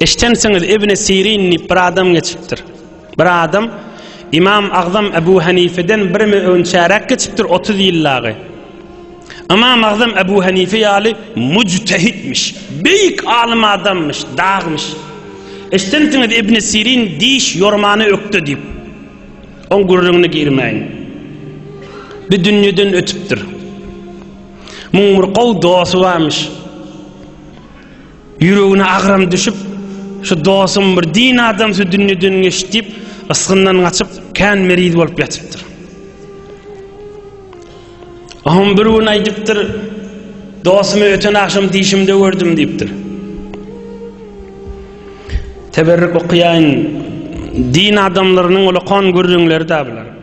Eşdensiňiz, Ibni Sirin diýip bir adam geçipdir. Bir adam Ymam Agzam Ebu Hanifeden bir mü-on çäräk geçipdir, otuz ýyl dagy. Ymam Agzam Ebu Hanife ýaly müjtehitmiş, beýik alym adamyş, dagmyş. Eşdensiňiz, Ibni Sirin diş ýormany ökde diýip. Oň gürrüňine girmäýin. Bu dünýeden ötüpdir. Muň bir gowy dosty barmyş. Ýüregine agram düşüp, şu dosum bir din adamsy dünýeden geçdi diýip, ysgyndan gaçyp, kän meriz bolup ýatypdyr. Oňam bir gün aýdypdyr, dosumy öten agşam dişimde gördüm diýipdir. Teberrük okaýaýyn, din adamlarynyň ulakon gürrüňleri-dä bular.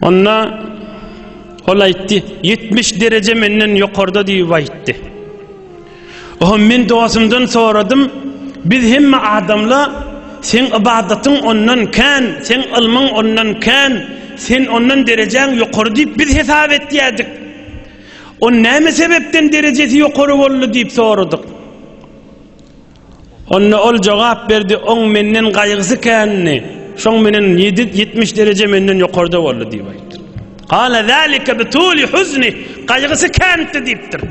Onda ol aýtdy, 70 dereje menden ýokarda diýip aýtdy. Oho men dostumdan soradym, biz hemme adamla sen ybadatyň ondan kän, sen ylmyň ondan kän, sen ondan derejäň ýokary diýip biz hesap etýädik. On näme sebepden derejesi ýokary boldy diýip soradyk. Onda ol jogap berdi, Oň menden gaýgysy kändi, şoň menen ýedi ýetmiş dereje menden ýokarda boldy diýip aýtdyr. Gala zalika bi tuli huzni, gaýgysy kändi diýipdir.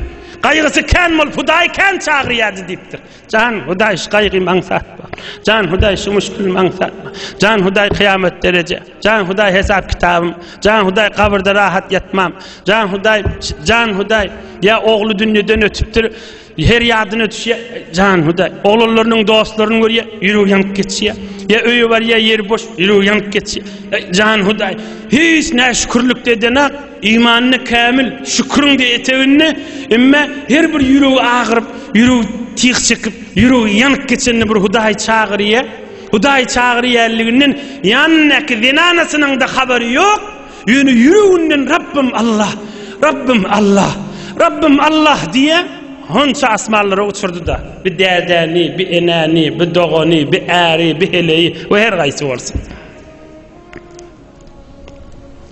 Gaýgysy kän bolup Hudaý kän çagyrýardy diýipdir. Jan Hudaý şu gaýgymy aňsatma. Jan Hudaý şu muşkilimi aňsatma. Jan Hudaý kyýamat dereje. Jan Hudaý hesap kitabym. Jan Hudaý gabyrda rahat ýatmam. Jan Hudaý, Jan Hudaý, ýa ogly dünýeden ötüpdir. Her ýadyna düşýär, jan Hudaý. Oglanlarynyň dostlaryny görýär, ýüregi ýanyp geçýär. Ýa öýe barýar, ýeri boş, ýüregi ýanyp geçýär. Eý, jan Hudaý, hiç näşükürlik edenok, imanyny kämil, şüküriň-de eteginde, emma her bir ýüregi agyryp, ýüregi tyg çekip, ýüregi ýanyp geçende bir Hudaýy çagyrýar. Hudaýy çagyrýanlygyny ýanyndaky zenanasynyň-da habary ýok. Ýöne ýüreginden Rabbym Allah, Rabbym Allah, Rabbym Allah diýýä, honça asmanlara uçurdy-da, bi dädäni, bi enäni, bi dogany, bi äri, bi heleýi we her gaýsy bolsun.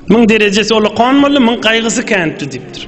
Muň derejesi ola konmaly, muň gaýgysy känpdi diýipdir.